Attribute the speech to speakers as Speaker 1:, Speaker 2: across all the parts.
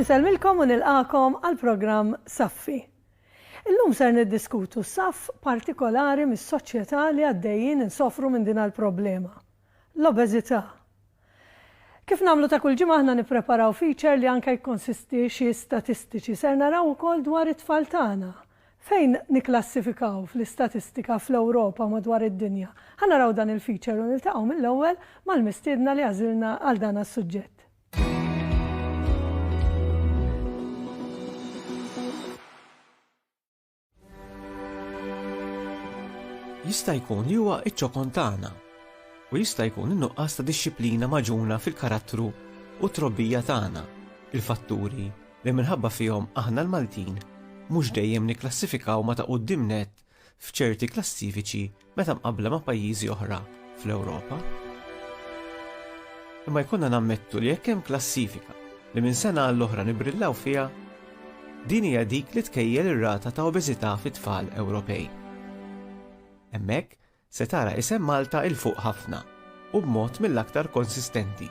Speaker 1: Insellmilkom u nilqagħkom għall-programm Saffi. Illum ser niddiskutu saff partikolari mis-soċjetà li għaddejjin insofru minn din għall-problema. l-obeżità. Kif nagħmlu ta' kull ġimgħa aħna nippreparaw feature li anke jikkonsisti xi statistiċi. Ser naraw ukoll dwar it-tfal tagħna. Fejn nikklassifikaw fl-istatistika fl-Ewropa u madwar id-dinja? Ħa naraw dan il-feature u niltaqgħu mill-ewwel mal-mistiedna li għażilna għal dan as-suġġett. Jista' jkun li huwa iċ-ċokon tagħna u jista' jkun in-nuqqas ta' dixxiplina maġuna fil-karattru u t-trobbija tagħna, il-fatturi li minħabba fihom aħna l-Maltin mhux dejjem nikklassifikaw ma' ta' quddiem nett f'ċerti klassifiċi meta mqabbla ma' pajjiżi oħra fl-Ewropa. Imma jkollna nammettu li jekk hemm klassifika li minn sena għall-oħra nibrillaw fiha, din hija dik li tkejjel ir-rata ta' obeżità fit-tfal Ewropej. Hemmhekk se tara isem Malta 'il fuq ħafna u b'mod mill-aktar konsistenti.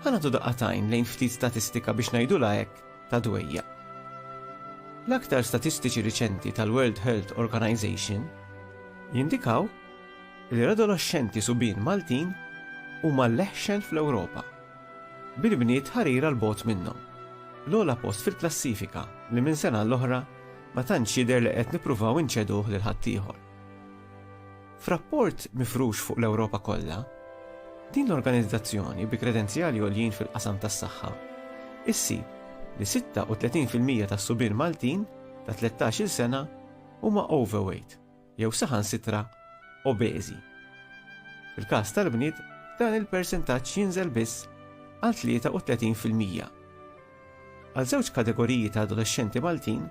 Speaker 1: Ħa nagħtu daqqa t'għajn lejn ftit statistika biex ngħidulha hekk, ta' dwejjaq. L-aktar statistiċi riċenti tal-World Health Organization jindikaw li l-adoloxxenti subien Maltin huma l-eħxen fl-Ewropa, bil-bniet ħarira 'l bogħod minnhom. L-ogħla post fil-klassifika li minn sena għall-oħra ma tantx jidher li qed nippruvaw inċeduh lil ħaddieħor. F'rapport mifrux fuq l-Ewropa kollha, din l-organizzazzjoni bi kredenzjali għoljin fil-qasam tas-saħħa ssib li 36 fil-mija tas-subien Maltin ta' tlettax-il sena huma overweight jew saħansitra obeżi. Fil-każ tal-bniet dan il-persentaġġ jinżel biss għal 33 fil-mija. Għal żewġ kategoriji ta' adolexxenti Maltin,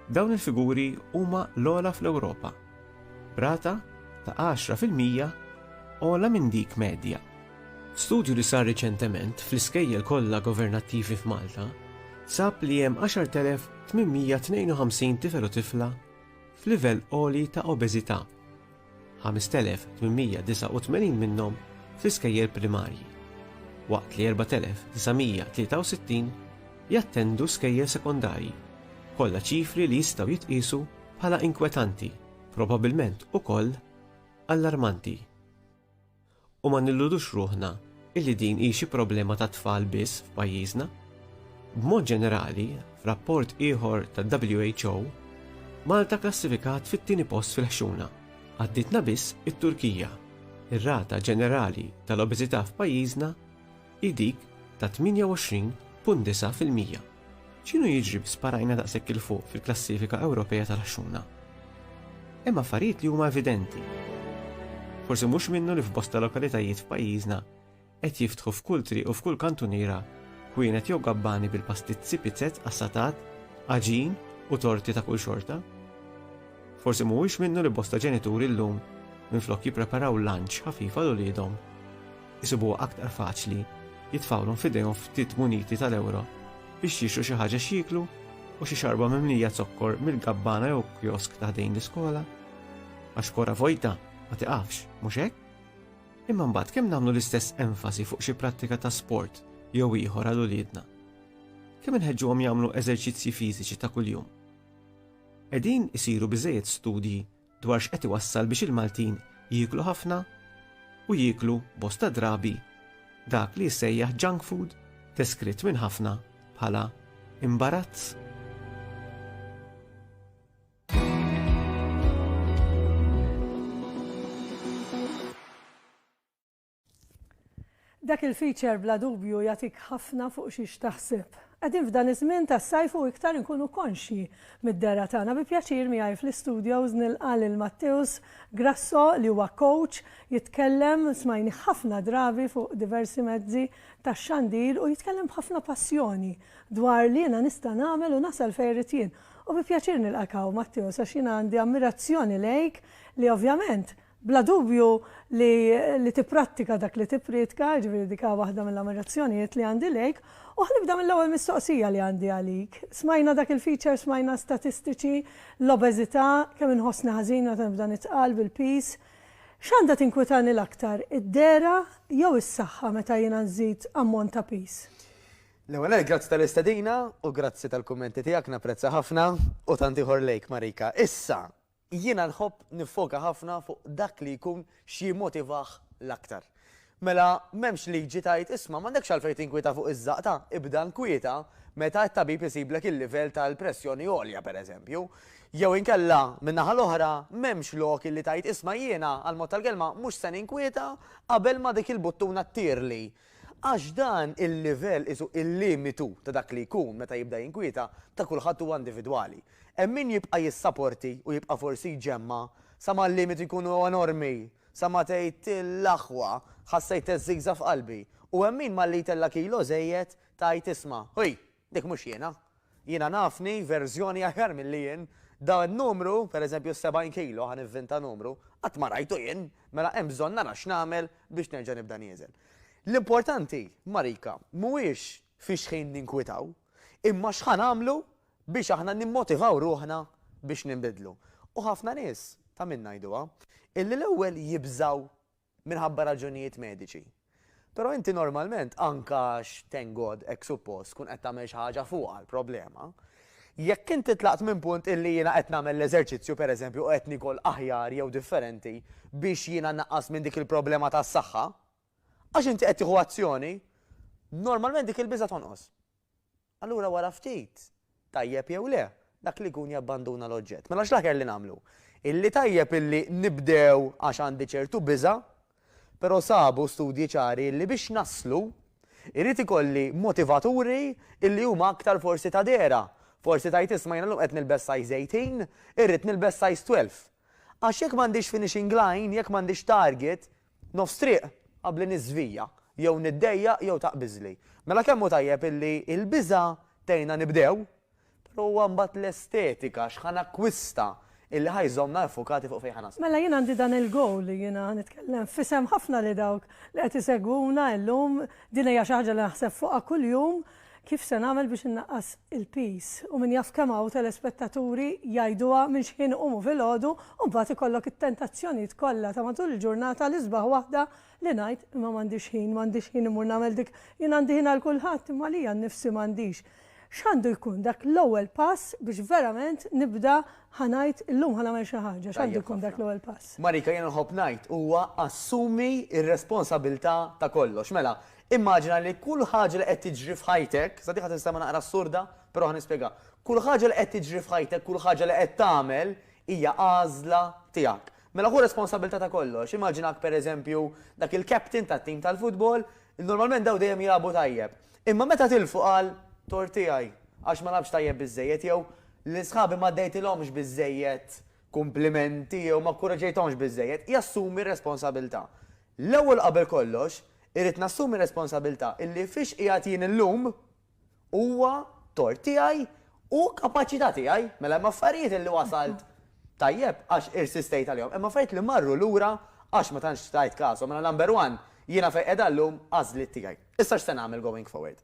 Speaker 1: dawn il-figuri huma l-ogħla fl-Ewropa, b'rata ta' għaxra fil-mija ogħla minn dik medja. Studju li sar riċentement fl-iskejjel kollha governattivi f'Malta sab li hemm 10,852 tifel u tifla f'livell għoli ta' obeżità, 5,889 minnhom fl-iskejjel primarji, waqt li 4,963 jattendu skejjel sekondarji, kollha ċifri li jistgħu jitqiesu bħala inkwetanti, probabbilment ukoll allarmanti. U ma nilludux ruħna illi din hi xi problema tat-tfal biss f'pajjiżna. B'mod ġenerali, f'rapport ieħor tad-WHO, Malta kklassifikat fit-tieni post fil-ħxuna, għaddietna biss it-Turkija. Ir-rata ġenerali tal-obeżità f'pajjiżna hi dik ta' 28.9 fil-mija. X'inhu jiġri bi sparajna daqshekk 'il fuq fil-klassifika Ewropea tal-għaxxuna? Hemm affarijiet li huma evidenti. Forsi mhux minnu li f'bosta lokalitajiet f'pajjiżna qed jiftħu f'kull triq u f'kull kantuniera kwienet jew gabbani bil-pastizzi, pizzett, qassatat, għaġin u torti ta' kull xorta. Forsi mhuwiex minnu li bosta ġenituri llum minflok jippreparaw lunch ħafif għal uliedhom, isibuha aktar faċli jitfgħulhom f'idejhom ftit muniti tal-ewro biex jixtru xi ħaġa x'jieklu u xi xarba mimlija zokkor mill-gabbana jew kiosk ta' ħdejn l-iskola. Għax kora vojta ma tiqafx, mhux hekk? Imma mbagħad kemm nagħmlu l-istess enfasi fuq xi prattika ta' sport jew ieħor għal uliedna? Kemm inħeġġuhom jagħmlu eżerċizzji fiżiċi ta' kuljum? Qegħdin isiru biżejjed studji dwar x'qed iwassal biex il-Maltin jieklu ħafna u jieklu bosta drabi dak li jissejjaħ junk food deskritt minn ħafna bħala imbarazz. Dak il-feature bla dubju jagħtik ħafna fuq xiex taħseb. Qegħdin f'dan iż-żmien tas-sajf u iktar inkunu konxji mid-dehra tagħna. Bi pjaċir miegħi fl-istudios nilqa' lil Matteus Grasso li huwa coach, jitkellem, smajnih ħafna drabi fuq diversi mezzi tax-xandir u jitkellem b'ħafna passjoni dwar li jiena nista' nagħmel u nasal fejn irrid jien. U bi pjaċir nilqak hawn Matteus għax jiena għandi ammirazzjoni lejk li ovvjament Bla dubju li li tipprattika dak li tipprietka, jiġifieri dik hi waħda mill-ammirazzjonijiet li għandi lejk. U ħa nibda mill-ewwel mistoqsija li għandi għalik. Smajna dak il-feature, smajna statistiċi, l-obeżità, kemm inħossni ħażin meta nibda nitqal bil-piż. X'għandha tinkwitani l-aktar, id-dehra jew is-saħħa meta jiena nżid ammont ta' piż? L-ewwel nett grazzi tal-istedina u grazzi tal-kummenti tiegħek, napprezza ħafna, u tant ieħor lejk Marika. Issa, Jiena nħobb niffoka ħafna fuq dak li jkun x'jimmotivah l-aktar. Mela, m'hemmx liġi tgħid, isma', m'għandekx għalfejn tinkwieta fuq iż-żaqta, ibda nkwieta meta t-tabib isiblek il-livell tal-pressjoni għolja, pereżempju. Jew inkella, min-naħa l-oħra, m'hemmx lok li tgħid, isma' jiena, għall-mod tal-kelma, mhux se ninkwieta qabel ma dik il-buttuna ttirli. Għax dan il-livell qisu il-limitu ta' dak li jkun meta jibda jinkwieta ta' kulħadd huwa individwali. Hemm min jibqa' jissaporti u jibqa' forsi jġemma' sa ma l-limitu jkunu enormi sa ma tgħid l-aħwa ħassejt teżżiża f'qalbi u hemm min malli jtella' kilo żejjed tgħid isma' ħuj! Dik mhux jiena. Jiena nafni verżjoni aħjar milli jien. Dan in-numru, per eżempju s-70 kilo, ħa nivvinta numru, qatt ma rajtu jien, mela hemm bżonn nara x'nagħmel biex nerġa' nibda nieżen. L-importanti, Marika, mhuwiex fi xħin ninkwitaw, imma x'ħa nagħmlu biex aħna nimmotivaw ruħna biex ninbidlu. U ħafna nies, ta' min ngħiduha, illi l-ewwel jibżgħu minħabba raġunijiet mediċi. Però inti normalment, anke għax, thank God, hekk suppost, tkun qed tagħmel xi ħaġa fuqha l-problema. Jekk inti tlaqt minn punt illi jiena qed nagħmel l-eżerċizzju, pereżempju, u qed niekol aħjar jew differenti biex jiena nnaqqas minn dik il-problema tas-saħħa, għax inti qed tieħu azzjoni, normalment dik il-biża' tonqos. Allura wara ftit, tajjeb jew le, dak li jkun jabbanduna l-oġġett. Mela x'l-aħjar li nagħmlu? Illi tajjeb illi nibdew għax għandi ċertu biża', però sabu studji ċari illi biex naslu, irrid ikolli motivaturi illi huma aktar forsi ta' dehra. Forsi tgħid isma' jiena llum qed nilbes size 18, irrid nilbes size 12. Għax jekk m'għandix finishing line, jekk m'għandix target, Nofs triq qabl li niżvija, jew niddejjaq jew taqbiżli. Mela kemm hu tajjeb illi l-biża' tgħinna nibdew, però huwa mbagħad l-estetika, x'ħa nakkwista, illi ħa jżommna iffukati fuq fejn ħa naslu. Mela jien għandi dan il-goal li jiena ħa nitkellem f'isem ħafna li dawk li qed isegwuna illum, din hija xi ħaġa li naħseb fuqha kuljum, Kif se nagħmel biex innaqqas il-piż? U min jaf kemm hawn telespettaturi jgħiduha minn xħin iqumu filgħodu u mbagħad ikollok it-tentazzjonijiet kollha ta' matul il-ġurnata l-isbaħ waħda li ngħid imma m'għandix ħin, m'għandix ħin immur nagħmel dik, jien għandi ħin għal kulħadd imma għalija nnifsi m'għandix. X'għandu jkun dak l-ewwel pass biex verament nibda ħa ngħid illum ħa nagħmel xi ħaġa, x'għandu jkun dak l-ewwel pass? Marika, jiena nħobb ngħid huwa assumi r-responsabilità ta' kollox. Mela, Immaġina li kull ħaġa li qed tiġri f'ħajtek, sa din ħa tinstema' naqra assurda, però ħa nispjegha, kull ħaġa li qed tiġri f'ħajtek, kull ħaġa li qed tagħmel hija għażla tiegħek. Mela ħu responsabbiltà ta' kollox. Immaġinak pereżempju dak il-captain tat-tim tal-futbol, normalment dawn dejjem jilagħbu tajjeb. Imma meta tilfu qal, tort tiegħi, għax ma lagħbtx tajjeb biżżejjed jew, lil sħabi ma għaddejtilhomx biżżejjed kumplimenti jew ma kkuraġġejthomx biżżejjed, jassumi r-responsabbiltà. L-ewwel qabel kollox, irrid nassumi r-responsabilità illi fiex qiegħed jien illum huwa tort tiegħi u kapaċità tiegħi. Mela hemm affarijiet illi wasalt tajjeb għax irsistejt għalihom. Hemm affarijiet li marru lura għax ma tantx tajt kashom. Mela number one, jiena fejn qiegħda llum għażliet tiegħi. Issa x'se nagħmel going forward?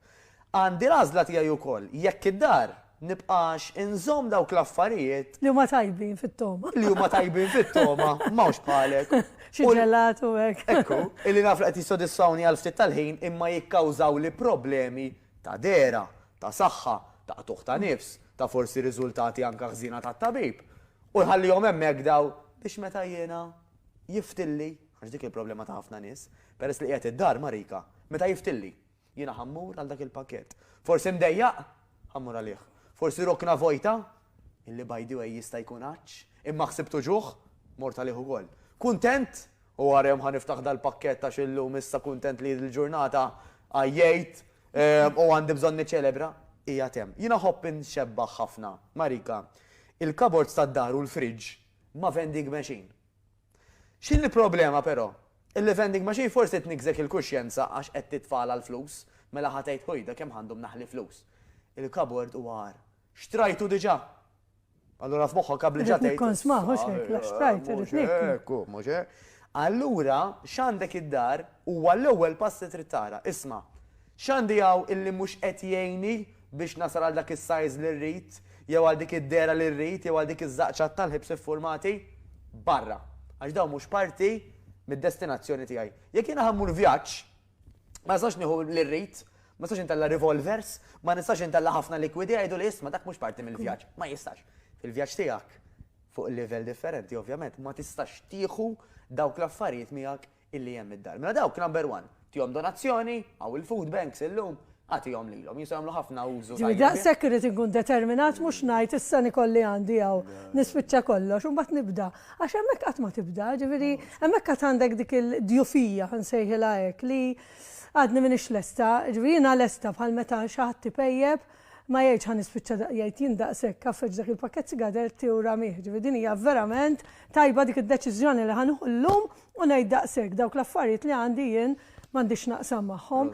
Speaker 1: Għandi l-għażla tiegħi wkoll jekk id-dar nibqax inżomm dawk l-affarijiet. Li huma tajbin fit-togħma. Li huma tajbin fit-togħma, m'hawnx bħalek. Xi ġelat u hekk. Ekku, illi naf li qed jissodisfawni għal ftit tal-ħin imma jikkawżawli problemi ta' dehra, ta' saħħa, ta' qtugħ ta' nifs, ta' forsi riżultati anke ħżiena tat-tabib. U nħallihom hemmhekk dawn biex meta jiena jiftilli Għax dik il-problema ta' ħafna nies. Peress li qiegħed id-dar, Marika, meta jiftilli? Jiena ħa mmur għal dak il-pakkett. Forsi mdejjaq? Ħa mmur għalih. Forsi rokna vojta? Illi by the way jista' jkun għatx. Imma ħsibt uġugħ? Mort għalih ukoll. Kuntent? U wara jum ħa niftaħ dal-pakkett għax illum issa kuntent li l-ġurnata għajjejt u għandi bżonn niċċelebra. Qiegħed hemm. Jiena nħobb inxebbah ħafna, Marika, il-cupboards tad-dar u l-fridge ma' vending machine. X'inhi l-problema però? Il-vending machine forsi tniggżek il-kuxjenza għax qed titfagħalha l-flus, mela ħa tgħid ħujda kemm għandhom naħli flus. Il-kabord huwa agħar. Xtrajtu diġà! Allura f'moħħok qabel ġa tgħid. Irrid nikkonsma, mhux hekk, la xtrajt, irrid nieku. Mhux hekk hu, mhux hekk. Allura x'għandek id-dar huwa l-ewwel pass li trid tara. Isma'. X'għandi hawn illi mhux qed jgħinni biex nasal għal dak is-sajż li rrid, jew għal dik id-dehra li rrid, jew għal dik iż-żaqċat tal-ħibs iffurmati? Barra! Għax dawn mhux parti mid-destinazzjoni tiegħi. Jekk jiena ħa mmur vjaġġ, ma nistax nieħu li rrid, ma nistax intella' revolvers, ma nistax intella' ħafna likwidi, jgħiduli isma' dak mhux parti mill-vjaġġ. Ma jistax. Fil-vjaġġ tiegħek, fuq livell differenti ovvjament, ma tistax tieħu dawk l-affarijiet miegħek illi hemm id-dar. Mela dawk number one, tihom donazzjoni, hawn il-food banks illum, agħtihom lilhom, jistgħu jagħmlu ħafna użu tajjeb. Jiġifieri daqshekk irrid inkun determinat mhux ngħid issa nikolli għandi hawn, nispiċċa kollox u mbagħad nibda. Għax hemmhekk qatt ma tibda, jiġifieri hemmhekk għad għandek dik il-djufija, ħa nsejħilha hekk, li għadni m'iniex lesta, jiġifieri jiena lesta bħal meta xi ħadd ipejjep, ma jgħidx ħa nispiċċa da, jgħid jien daqshekk għaffeġ dak il-pakkett sigaretti u ramih, jiġifieri din hija verament tajba dik id-deċiżjoni li ħa nieħu llum u ngħid daqshekk, dawk l-affarijiet li għandi jien m'għandix naqsam magħhom.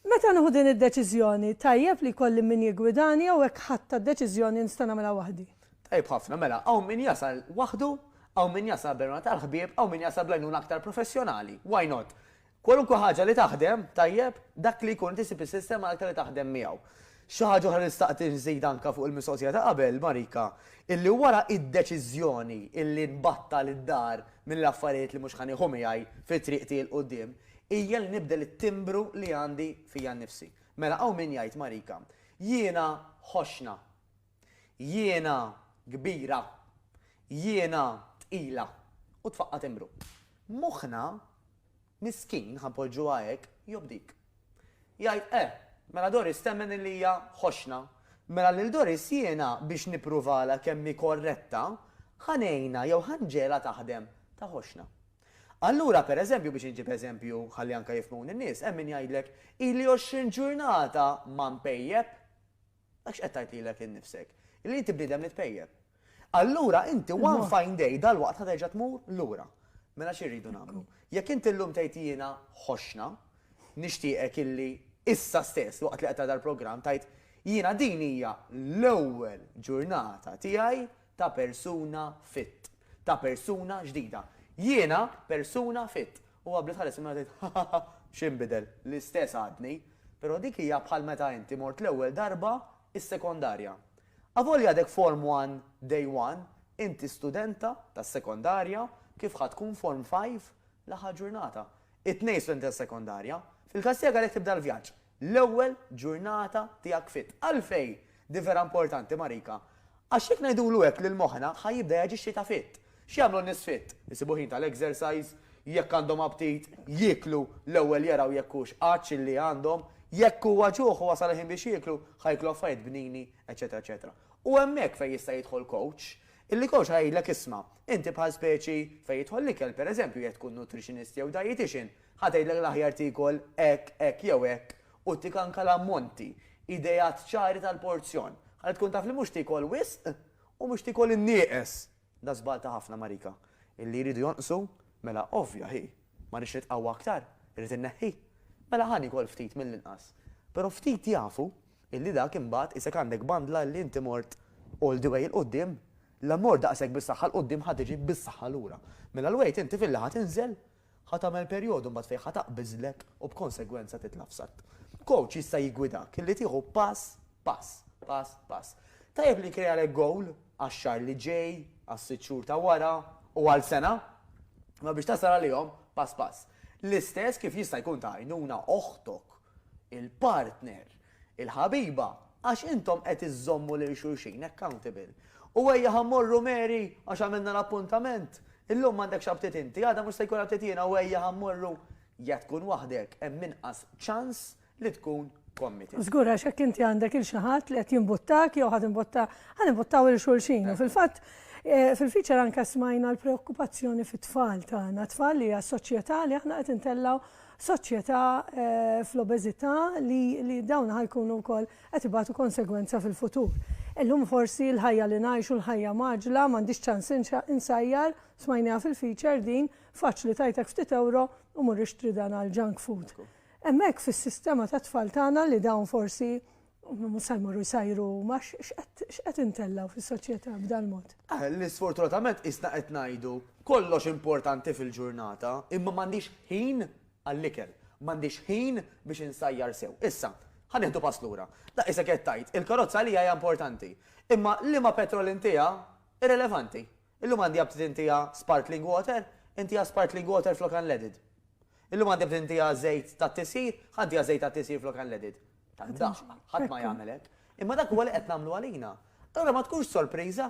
Speaker 1: Meta nieħu din id-deċiżjoni, tajjeb li jkolli min jiggwidani jew hekk ħadtha d-deċiżjoni li nista' nagħmilha waħdi? Tajjeb ħafna, mela hawn min jasal waħdu, hawn min jasal bl-għenuna tal-ħbieb, hawn min jasal bl-għenuna aktar professjonali. Why not? Kwalunkwe ħaġa li taħdem tajjeb, dak li jkun inti ssib is-sistema l-aktar li taħdem miegħu. Xi ħaġa oħra li xtaqt inżid anke fuq il-mistoqsija ta' qabel, Marika, illi wara d-deċiżjoni illi nbattal id-dar mill-affarijiet li mhux ħa nieħu miegħi fi triq tiegħi 'l quddiem, hija li nibdel it-timbru li għandi fija nnifsi. Mela hawn min jgħid, Marika, jiena ħoxxna. Jiena kbira, jiena tqila, u tfaqqa' timbru. Moħħna, miskin, ħa npoġġuha hekk, jobdik. Jgħid, Eh, mela Doris temmen illi hija ħoxna. Mela lil Doris jiena biex nippruvalha kemm hi korretta, ħa ngħinha jew ħa nġegħlha taħdem ta' ħoxna. Allura, per eżempju, biex inġib eżempju ħalli anke jifhmuni n-nies, hemm min jgħidlek, Ili għoxrin ġurnata ma npejjep. Dak x'qed tgħid lilek innifsek? Li inti bniedem li tpejjep. Allura inti one fine day dalwaqt ħa terġa' tmur lura. Mela xi rridu nagħmlu? Jekk inti llum tgħid jiena ħoxna, nixtieqek illi issa stess waqt li qed tara dal-programm tgħid, jiena din hija l-ewwel ġurnata tiegħi ta' persuna fit. Ta' persuna ġdida. Jiena persuna fit. U għabli tħares il-mara tgħid, Hahaha, x'inbidel? L-istess għadni. Però dik hija bħal meta inti mort l-ewwel darba s-sekondarja. Avolja għadek Form One, Day One, inti studenta tas-sekondarja kif ħa tkun Form Five l-aħħar ġurnata. It-tnejn studenti tas-sekondarja. Fil-każ tiegħek għalhekk tibda l-vjaġġ. l-ewwel ġurnata tiegħek fit. Għalfejn din vera importanti Marika? Għax jekk ngħidulu hekk lil moħħna ħa jibda jaġixxi ta' fit. X'jagħmlu n-nies fit? Isibu ħin tal-exercise, jekk għandhom aptit, jieklu, l-ewwel jaraw jekk hux għatx illi għandhom, jekk huwa ġuħ u wasal il-ħin biex jieklu, ħa jieklu affarijiet bnini, eċċetera eċċetera. U hemmhekk fejn jista' jidħol coach, illi coach ħa jgħidlek isma', inti bħal speċi fejn jidħol l-ikel, pereżempju jekk tkun nutritionist jew dietician, Ħa tgħidlek l-aħjar tiekol hekk, hekk jew hekk u ttik anke l-ammonti, ideat ċari tal-porzjon, ħalli tkun taf li mhux tiekol wisq u mhux tiekol in-nieqes. Da żball ta' ħafna Marika. Illi jridu jonqsu? Mela ovvja hi. Ma rridx nitqawwa aktar? Irrid inneħħi? Mela ħa niekol ftit mill-inqas. Però ftit jafu illi dak imbagħad qisek għandek bandla illi inti mort all the way 'il quddiem. La mort daqshekk bis-saħħa 'l quddiem ħa tiġi bis-saħħa lura. Mela l-weight inti filli ħa tinżel Ħa tagħmel perjodu mbagħad fejn ħa taqbiżlek u b'konsegwenza titla' f'satt. Kowċ jista' jiggwidak illi tieħu pass pass, pass pass. Tajjeb li nkrealek gowl għax-xahar li ġej, għas-sitt xhur ta' wara u għal sena, imma biex tasal għalihom pass pass. L-istess kif jista' jkun ta' għajnuna oħtok il-partner, il-ħabiba, għax intom qed iżżommu lil xulxin accountable. U ejja ħa mmorru Mary għax għamilna l-appuntament, illum m'għandekx aptit inti, għada mhux se jkun aptit jiena u ejja ħa mmorru, jekk tkun waħdek hemm inqas ċans li tkun committed. Żgur għax jekk inti għandek 'il xi ħadd li qed jimbuttak jew ħa timbutta, ħa nimbuttaw 'il xulxin. U fil-fatt fil-feature anke smajna l-preokkupazzjoni fit-tfal tagħna, tfal li għas-soċjetà li aħna qed intellgħu soċjetà fl-obeżità li dawn ħa jkunu wkoll qed ibatu konsegwenza fil-futur. Illum forsi l-ħajja li ngħixu, l-ħajja mgħaġġla, m'għandix ċans insajjar, smajniha fil-feature din, faċli tgħitek ftit ewro u mur ixtri dan għall-junk food. Hemmhekk fis-sistema tat-tfal tagħna li dawn forsi Mhux se jmorru jsajru huma, x'qed intellgħu fis-soċjetà b'dal-mod? Li sfortunatament qisna qed ngħidu, kollox importanti fil-ġurnata, imma m'għandix ħin għall-ikel, m'għandix ħin biex insajjar sew. Issa, ħa nieħdu pass lura. Da qisek qed tgħid, il-karozza għalija hija importanti, imma liema petrol intiha irrilevanti. Illum għandi aptit intiha sparkling water, intiha sparkling water flok unleaded. Illum għandi aptit intiha żejt tat-tisjir, ħa ntiha żejt tat-tisjir flok unleaded. tad-daqq, ħadd ma jagħmel hekk. Imma dak huwa li qed nagħmlu għalina. Allura ma tkunx sorpriża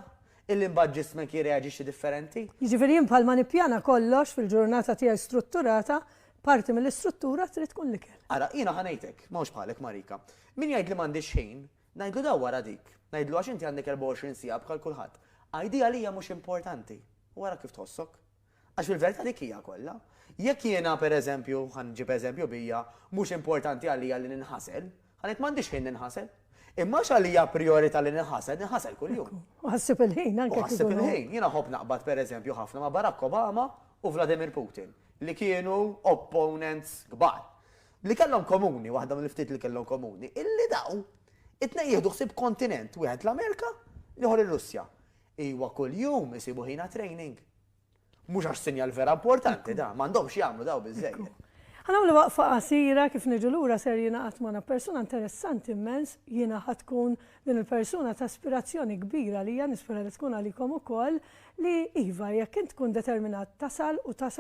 Speaker 1: illi mbagħad ġismek jirreaġixxi differenti. Jiġifieri jien bħalma nippjana kollox fil-ġurnata tiegħi strutturata, parti mill-istruttura trid tkun l-ikel. Ara, jiena ħa ngħidlek, m'hawnx bħalek Marika. Min jgħid li m'għandix ħin, ngħidlu dawwar għal dik. Ngħidlu għax inti għandek 24 siegħa bħal kulħadd. Għidi għalija mhux importanti u ara kif tħossok. Għax fil-verità dik hija kollha. Jekk jiena, per eżempju, ħa nġib eżempju bija, mhux importanti għalija li ninħasel, ħa ngħid m'għandix ħin ninħasel. Imma għax għalija prijorità li ninħasel, ninħasel kuljum. U ħassib il-ħin anke. U ħassib il-ħin. Jiena nħobb naqbad per eżempju ħafna ma' Barack Obama u Vladimir Putin, li kienu opponents kbar. Li kellhom komuni, waħda mill-ftit li kellhom komuni, illi daw it-tnejn jieħdu ħsieb kontinent, wieħed l-Amerika, l-ieħor ir-Russja. Iwa kuljum isibu ħin għat-training. Mhux għax sinjal vera importanti dan, m'għandhomx jagħmlu dawn biżżejjed. Ħa nagħmlu waqfa qasira, kif niġu lura ser jingħaqad magħna persuna interessanti immens, jiena ħa tkun din il-persuna ta' ispirazzjoni kbira għalija, nispera li tkun għalikom ukoll, li iva jekk int tkun determinat tasal u tasal.